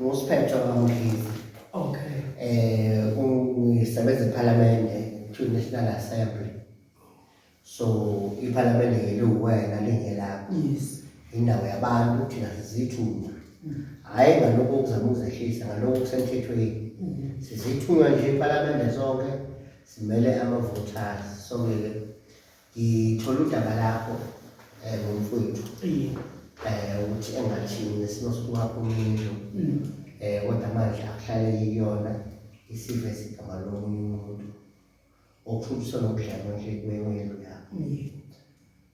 ngusphetho kamdlizi okay eh ungisebenza ephalamende to national assembly so iphalamende ngeliwuwena lingelakho yes indawo yabantu thina sizithunywa mm. hhayi ngalokho okuzama ukuzehlisa ngalokho kusemthethweni mm-hmm. sizithunywa nje iphalamende sonke simele ama-voters sonke-ke Ngithola udaba lakho eh ngomfowethu. Iye. Eh ukuthi engathini nesimo sokwakho umndlu. Mm. Eh kodwa manje akuhlale yiyona isive sigama lomunye umuntu. Okuthuthusa nokudlala nje kwewelo yakho. Iye.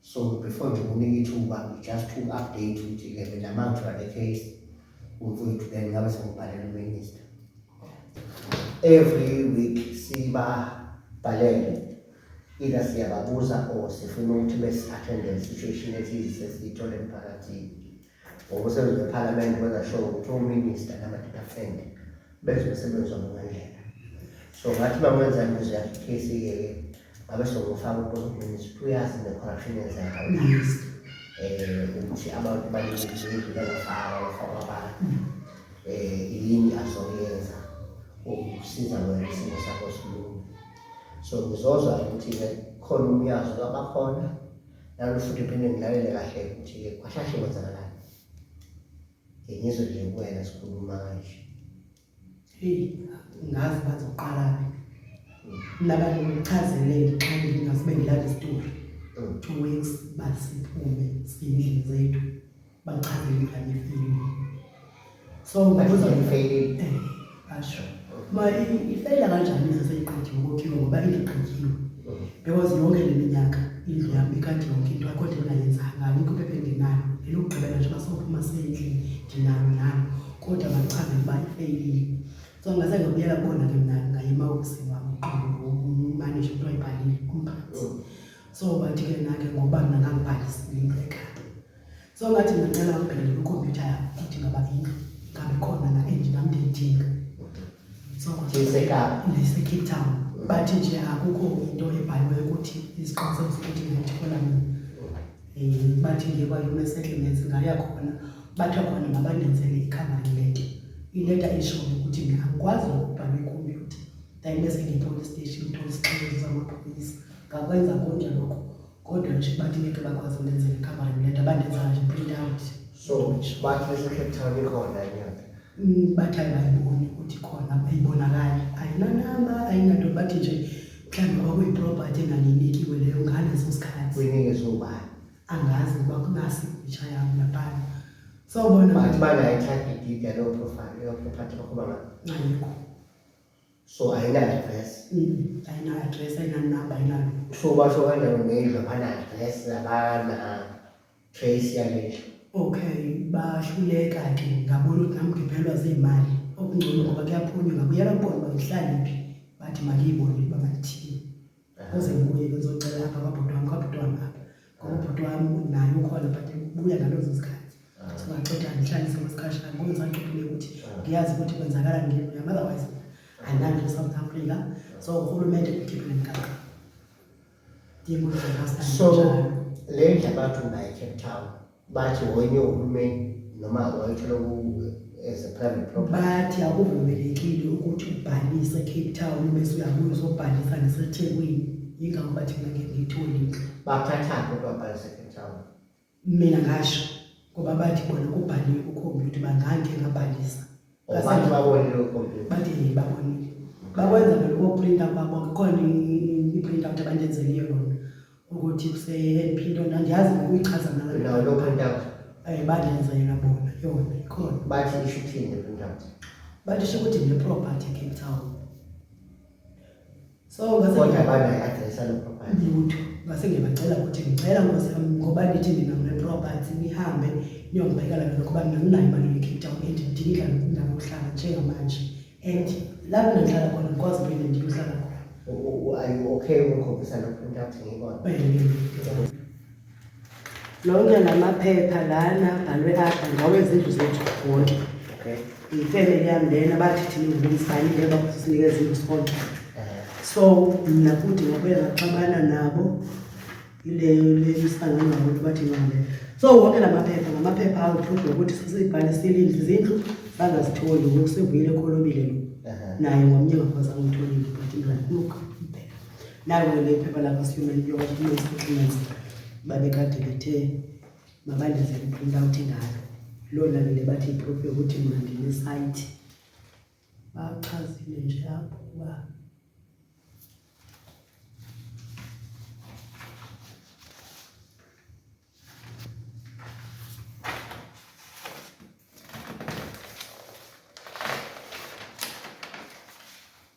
So before nje kunika ithuba just to update ukuthi ke mina manje the case umfowethu then ngabe sengibhalela uminister. Every week siba bhalele Either siyababuza or sifuna ukuthi besi attende le situation ethize esiyithole emphakathini. Ngoba usebenzi wePhalamende wenza sure ukuthi uMinister nama-department benze umsebenzi wabo ngendlela. So ngathi uma ngenza imizwa yakhe i-case yeke ngabe sokufaka uPhumlani ukuthi uyazi ne-corruption yenzeka uyazi um ukuthi abantu balindile bangafaka bafaka abantu um yini azoyenza ukusiza wena isimo sakho silunge. so ngizozwa ukuthi-ke khona umyazo kabakhona nalo futhi phinde ngilalele kahle ukuthi-ke kwashashe kwenzakalani ngizwe nje kuwena sikhuluma kanje heyi ngazi bathi uqalaphi nabantu ngichazele xa ngingasibe ngilale isitori two weeks basiphume siyindlini zethu Bachazile ngani ifeyilile. So ngibuzwa ifeyilile. Eh, asho. Ma ifeyila kanjani ize seyiqedile ukokhiwa ngoba ingiqedile. Because yonke le minyaka indlu yami ikade yonke into akho nto engayenzanga alikho iphepha engenayo elokugqibela nje basophuma sendlini ndinalo nalo kodwa bachaze ukuba ifeyilile so ngase ngabuyela kubona ke mna ngaye emawofisini wami umanishe kuthiwa ibhalile umphathi so bathi ke nake ngoba mna ngangibhalisile into ekhaya so ngathi ngicela ubhekele kwikhompyutha yakho ukuthi ngaba indlu ngabe khona la endlu nam ndiyidinga so ndisecape town bathi nje akukho into ebhaliweyo ukuthi iziqinisekisa ukuthi ngayithola mina um bathi ngiye kwa-human settlements ngaya khona bathiwa khona mabanenzele ikhavani lento ileta ishoyo ukuthi mina angikwazi ukubhala ikhompyutha ndayibese ngiyi-police station thola isixelo zamaphoyisa ngakwenza konje lokho kodwa nje bathi ngeke bakwazi ulenza i-covering letter bandenza nje print out so bathi lese-cape town ikhona inyanga mm, bathi ayibayiboni ukuthi khona ayibonakali ayinanamba ayinanto bathi nje mhlawumbe kwakuyiproperty enganinikiwe leyo ngaleso sikhathi kuyinike sobani angazi ukuba kunasi itsha yami lapana sawubona bathi banayithatha idida leyo property bakhuba ngayo ayikho so ayina-address ayina-address ayinanumber ayinalo so basho kanjani ngendlu abana-address abana-trace yalendlu okay bahluleka ke ngabona ukuthi nami ngiphelwa ziyimali okungcono ngoba kuyaphunywa ngabuyela kubona uba ngihlale phi bathi maliyibone uba malithini Kuze ngibuye ngizocela apha kwabhuti wami kwabhuti wami apha ngoba ubhuti wami naye ukhona but ubuya ngalezo zikhathi singaxoxa ngihlalise kwesikhashana ngoba ngisaxoxile ukuthi ngiyazi ukuthi kwenzakala ngini yami otherwise andinanto e-south africa so urhulumente ukhiphe le mgaqo so le ndla bathi unayi-cape town bathi wenye uhulumeni noma wayithola as a private property bathi akuvumelekile ukuthi ubhalise Cape Town bese uyabuya uzobhalisa neseThekwini yingakho bathi mina ngeke ngithole bathatha kodwa bhalise Cape Town mina ngasho ngoba bathi bona kubhaliwe kukhombiyutha bangangike ngabhalisa Abantu babonile ukhompyutha. Bathi babonile. Bakwenza vele ukoprinta kwabo kukhona i-print out abandenzele yona ukuthi kuse-LP into andiyazi ukuyichaza ngalo. Nawo lo print out. Eh bandenza yona bona yona ikhona. Bathi isho ukuthini le print out? Bathi isho ukuthi ne-property eCape Town. so kodwa bana adresa lo property lutho ngase ngiyabacela ukuthi ngicela nkosi yami ngoba nithi nina ngile property nihambe niyongibhekela lona ngoba mina nginayo imali ye-cape town and ngidinga indawo yokuhlala njengamanje and lapho ngihlala khona ngikwazi phinde ndiyohlala khona are you okay ukukhombisa lokhu into athi ngikona lonke lamaphepha lana bhalwe apha ngawezindlu zethu wonke okay ifamily yami lena bathi thina ngumsani ngeba kusinika izindlu sonke so mina futhi ngabuye ngaxabana nabo ileyo lemisanga ngabantu bathi ngale so wonke lamaphepha ngamaphepha awu prove ukuthi sisibhale silindlu izindlu bangazitholi ngoku sivuyile kholobile lo naye ngomnye ngakhona angitholi but ngifuna ukubheka nayo leli phepha lakwa-human documents documents babekade bethe mabandenze i-print out ngalo lona lile bathi iproof yokuthi mna ndinesayithi bachazile nje apho uba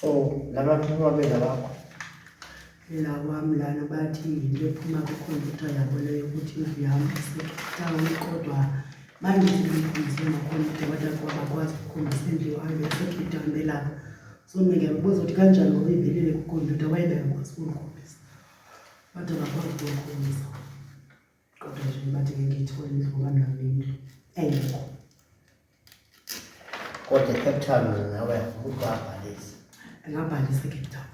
so laba phuma bela bakho la wami lana bathi yinto ephuma kwikhompyutha yabo leyo ukuthi indlu yami isetawuni kodwa bandiikhulise makhompyutha kodwa kuba bakwazi ukukhombisa indlu yohambe esekhompyutha hambelapha so mna ndiyakubuza ukuthi kanjani ngokuyivelile kwikhompyutha wayebengakwazi ukundikhombisa kodwa bakwazi ukundikhombisa Kodwa nje bathi ngeke ithole indlu ngoba nayo indlu engekho. Kodwa eCape Town wena nawe umuntu wabhalisa. Ngabhalisa eCape Town.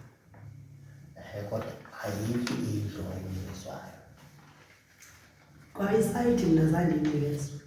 Ehe kodwa ayikho indlu engiyizwayo. Kwa isayidi mina zange ngiyezwe.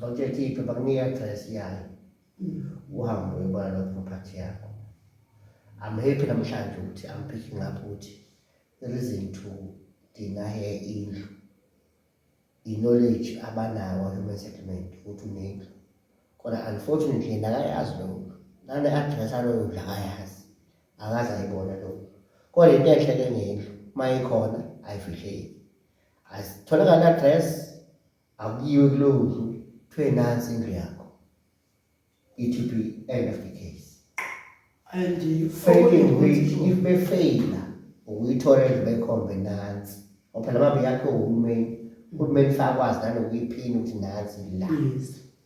Bakuyakhipha bakunika address yayo. Mm. Uhambe uyobona lo property yakho. I'm happy namhlanje ukuthi I'm picking up ukuthi the reason to deny her indlu. I-knowledge abanawo human settlement ukuthi unendlu. Kodwa unfortunately nakayazi lo mntu. Nane address aloyo ndlu akayazi. Akaze ayibona lo mntu. Kodwa into enhle ke ngendlu uma ikhona ayifihleki. Asitholakala address akuyiwe kulowo ndlu kuthiwe nansi indlu yakho it will be end of the case and failing which if befeyila ukuyithola indlu bekhombe nansi ngoba phela mabe yakhe uhulumeni uhulumeni fakwazi nanokuyiphini ukuthi nansi la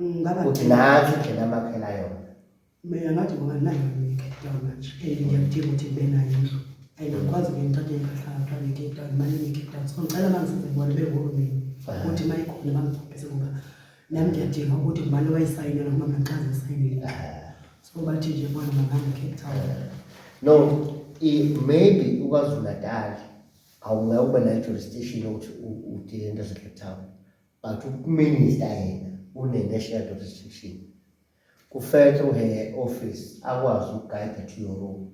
ngaba ukuthi nathi indlela amakhela yona mina ngathi ngoba nayo ngicape down manje and ngiyakudinga ukuthi ngibe nayo indlu and ngikwazi ke ngithathe impahla ngithwale ngicape down imali ngicape down so ngicela mangizenze bona behulumeni ukuthi uma ikhona bangiphaphise ngoba nami ngiyadinga ukuthi ngubani owayisayinela ngoba mina ngichaze isayinile so bathi nje bona mangihamba cape town no maybe ukwazulu natal awungeke ube nayo jurisdiction yokuthi udile into zacape town But uMinister yena une-national job restriction. Kufanele uhe office akwazi ukugayida to your room.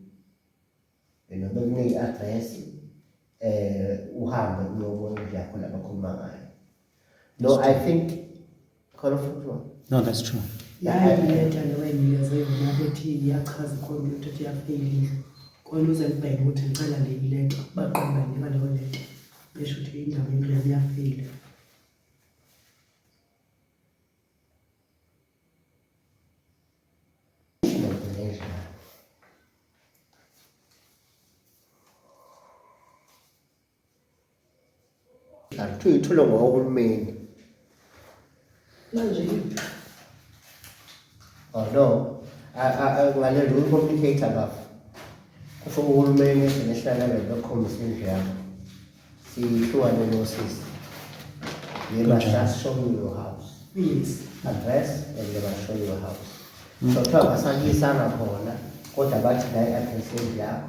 Yena bekunika i-address eh uhambe uyobona indlu yakho labakhuluma ngayo. No, I think khona futhi wona. No, that's true. yayileta lewena iyazoyibona bethi iyachaza ikhompyutha ukuthi iyafeyilile kona uze libheke ukuthi ngicela leyileta baqonda nima leyo leta Ngisho ukuthi indaba yami iyafile. Kuthiwa ithulwe ngohulumeni. manje oh no ngalelo uyi-complicator bafo kusho uhulumeni international level okhombisa indlu yakho siyihlukane nosisi they must just show you your house yes. address and they must show you your house mm. so kuthiwa basakuyisanga khona kodwa bathi la i-address yendlu yakho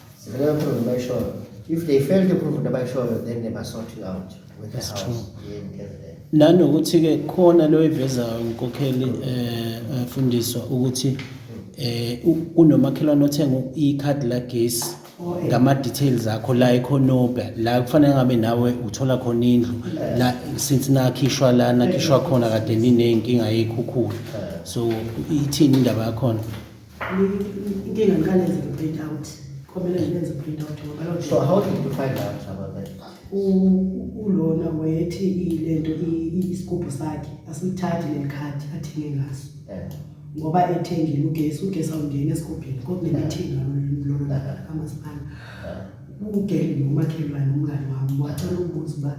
Sebengaprove bayishoyo. If they fail to prove nabayishoyo then they must sort you out with the That's house. true. Yeah, in KZN. nanokuthi-ke khona lo evezayo nkokheli um um, fundiswa ukuthi um kunomakhelwane othenga ikhadi lagesi ngama-details akho la ekhonobha la kufanele ngabe nawe uthola khona indlu la since nakhishwa la nakhishwa khona kade niney'nkinga yey'khukhula so ithini indaba yakhona inkinga ngikanenze nge-print out komele ngibenze i-print out ngoba loo So how did you find out about that? u- ulona wayethi i- le nto i- i- isigubhu sakhe asilithathi leli khadi athenge ngaso Yeah. ngoba ethengile ugesi ugesi awungeni esigubhini kokunemithingi lolona kamasipala ugeli nomakhelwane umngane wami wacela ukubuza uba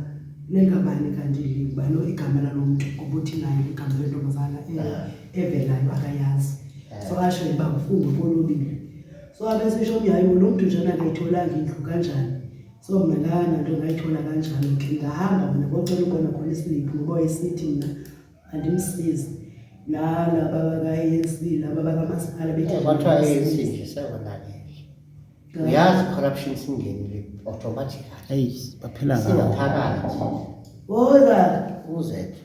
lengabani kanti le ubani igama lalo mntu ngoba uthi naye igama lentombazana eh, evelayo akayazi so asho uba ngifungwe kolobile so abesesho mi hayi lo mntu njena ngayitholanga indlu kanjani so mna lana nto ngayithola kanjani ke ngahamba mna kocela ukona khona isiliphu ngoba wayesithi mna andimsizi lala babaka-anc laba bakamasipala beyazi corruption singenile automatically baphela ngaphakathi oza uzethu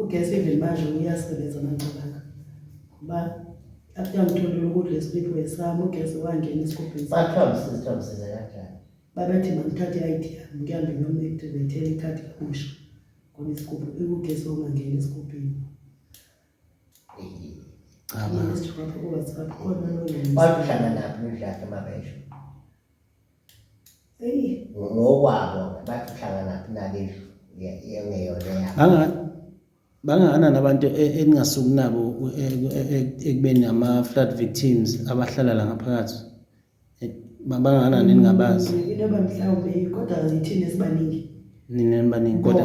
ugesi even manje uyasebenza manqabanga kuba after ngitholile ukudla esiphiwe sami ugesi wangena esigubhini bathambisisithambisisa kanjani babethi mandithathe i-id yami ngihambe ngiyomactivate-ela ikhadi kabusha ngoba isigubhu ikugesi ongangeni esigubhini bakuhlala naphi nidlaphi mabesho ngokwabo bathi uhlanganaphi nalendlu yengeyona yabo bangakanani abantu e, eningasuki nabo e, e, ekubeni ama-flood victims abahlala la ngaphakathi bangakanani eningabazi mm, into yoba mhlawumbe kodwa yithini esibaningi nina nibaningi kodwa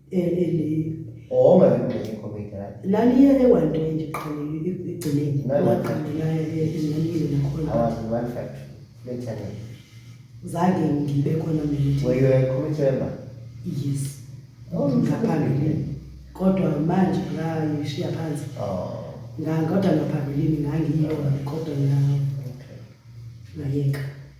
Oma ngingqenye comedy right. Laliye ewantonje qhamile igcineni. Ngaqhamela ezinganile nakhona. Awazi one fact. Lethane. Zange ngibe khona mina. Were you a committee member? Yes. Oh, ngaphambili. Kodwa manje ngayishiya phansi. Oh. Ngangoda ngaphambilini ngangiyona kodwa ngiyayeka.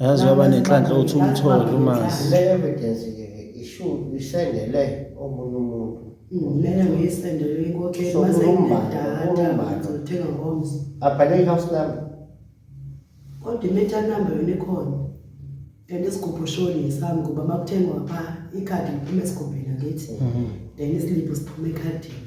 Yazi waba nenhlanhla uthi umthole umazi. Le evidence ke ke ishuthi isendele omunye umuntu. Mina ngiyisendele inkokheli So, mase uMbali, inedata uMbali. ngizothenga ngomzi. Abhale i-house number. Kodwa i-meter number yona ikhona. Then isigubhu shoni ngesami ngoba uma kuthengwa pha ikhadi liphuma esigubhini angithi. Then isiliphu siphuma ekhadini.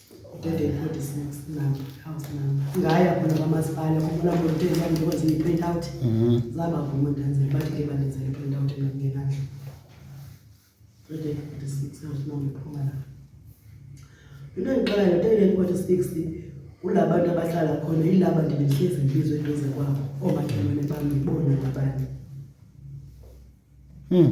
Dede code is next number, house number. Ngaya khona kwamasipala ukubona ukuthi ngikwenze i-print out. Mhm. Zaba vuma ndenzele bathi ke bandenzele i-print out engingenandla. Dede code is next house number phuma la. Into engiqala le dede code is next kulabantu abahlala khona ilaba ndibehlezi ngibizwe eduze kwabo omakhelwane bami bona ngabani. Hmm.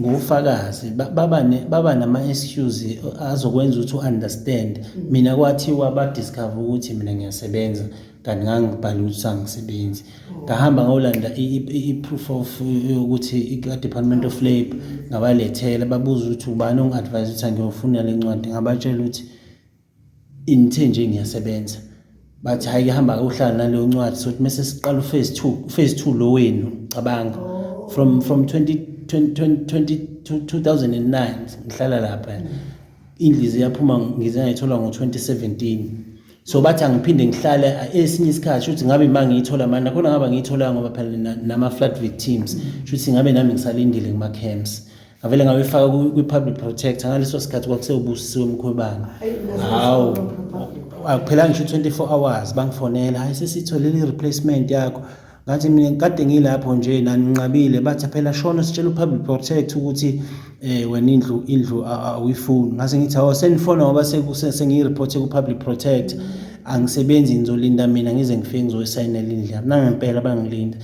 ngofakazi baba nama-excuse azokwenza ukuthi u-understand mina kwathiwa badiscover ukuthi mina ngiyasebenza kanti ngangibhale ukuthi sangisebenzi ngahamba ngolanda i-proof of yokuthi i-department of labour ngabalethela babuza ukuthi ubani ongi-advise ukuthi angiyofuna le ncwadi ngabatshela ukuthi Ngithe nje ngiyasebenza bathi hhayi-ke hamba-ke uhlala naleyo ncwadi sokuthi mese siqala uphase two uphase two lo wenu cabanga from from 20 2009 ngihlala lapha indlizi yaphuma ngize ngayithola ngo-2017 so bathi angiphinde ngihlale esinye isikhathi shuthi ngabe uma ngiyithola mani nakhona ngaba ngiyithola ngoba phela nama-flat victims shuthi ngabe nami ngisalindile kuma-camps ngavele ngabefaka kwi-public protector ngaleso sikhathi kwakusewubusisiwe mkhwebane hawu akuphelanga ngisho u-24 hours bangifonela hayi sesitholile i-replacement yakho ngathi mina kade ngilapho nje naninqabile bathi phela shona sitshela u-public protect ukuthi um wena indlu indlu awuyifuni ngase ngithi awo senifona ngoba sengiyi-reporthe ku-public protect angisebenzi ngizolinda mina ngize ngifike ngizoyisayinela indlu yami nangempela bangilinda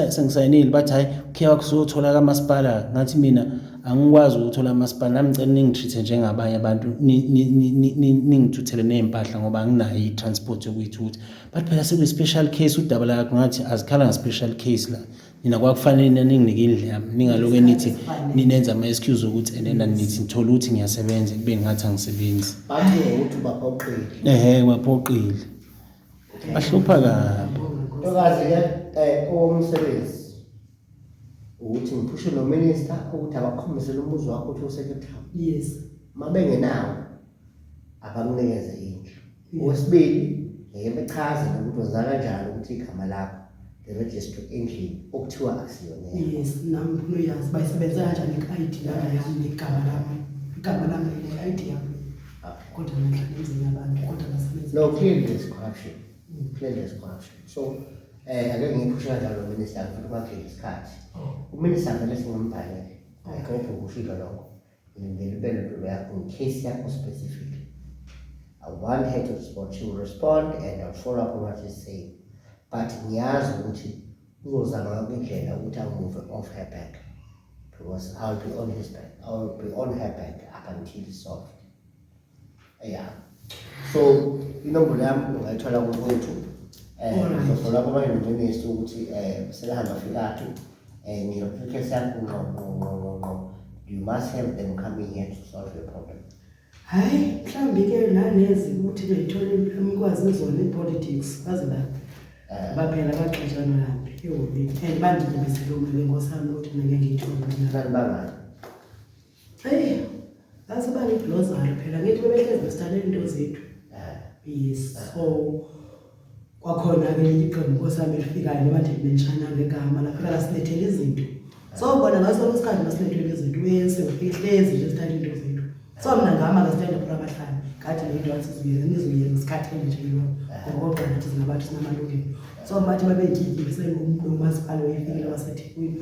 sengisayinile bathi hhayi ukhe wakuzothola kamasipala ngathi mina angikwazi ukuthola amasipala nami ngicela ningi-treat-e njengabanye abantu ningithuthele ney'mpahla ngoba anginayo i-transport yokuyithutha but phela sekuyi-special case udaba lakho ngathi azikhala nge-special case la nina kwakufanele nina ninginike indlu yami ningaloke nithi ninenza ama-excuse okuthi enena nithi ngithole ukuthi ngiyasebenza kube ngathi angisebenzi ehe kwaphoqile Bahlupha kabi. Ntokazi ke eh umsebenzi ukuthi ngiphushe no minister ukuthi abakhombisele umuzi wakho ukuthi usekhethayo. Yes. Mabengenawo abakunikeze indlu. Okwesibili ngeke bechaze ukuthi wenza kanjani ukuthi igama lakho the registry endlini okuthiwa akusiyona yes nami ngifuna uyazi uba isebenza kanjani i-id lana yami negama lami igama lami ne-id yami Okay. kodwa nahlala emzini yabantu kodwa nasebenza No, clearly there's corruption. Clearly there's corruption. So, eh, ake ngiphusha kanjalo minister ngifuna ukwakhe isikhathi. Uminister vele singamubhalele. Ayikho ukushiza lokho. Ngilindele impendulo yakho ngecase yakho specific. I want her to respond. She will respond and I'll follow up on what she's saying. But ngiyazi ukuthi uzozama yonke indlela ukuthi angimuve off her back because I'll be on his back. I'll be on her back up until it's solved. ya so inombolo yami ungayithola kukwethu um ngizofola kwamayunivesi ukuthi um selihamba fikaphi um ngiyophikesa yakho ngqo ngqo ngqo ngqo ngqo you must have them coming here to solve your problem hhayi mhlawumbi ke nanezi ukuthi beyithole umkwazi izona i-politics baze ba Eh. baphela baxeshana laphi ehhovini and bandidibisele umele nkosami ukuthi mina ngiyithole mina kanti bangani Hey, that's about it Lozaro phela ngithi bebehlezi besithandela into zethu. Yes. So kwakhona ke iqembu kosami lifikayo noma nje benshana ngegama lafika lasilethela izinto. So bona ngaso losikhathi masilethela izinto uyese ufihlezi nje sithatha into zethu. So mina ngama ke sithandela phela abahlali. Kade le dance izuye ngizuye ngesikhathi nje lo. Ngoba ngathi sinabantu sinamalungelo. So manje babeyikiki sengumntu umasipala wefikile waseThekwini.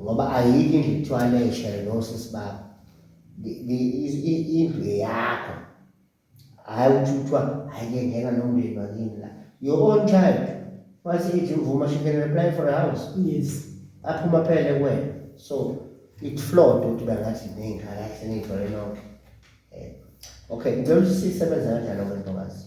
ngoba ayikho indlu kuthiwa leshe nosisi bakho indlu eyakho hhayi ukuthi kuthiwa hhayi ke ngena nomndeni wakini la your own child once ithi uvuma she can apply for a house yes aphuma phele kuwena so it flawed ukuthi bangathi ney'ngane ahle niyithole nonke eh, okay ngicela ukuthi sisebenza kanjani okwentokazi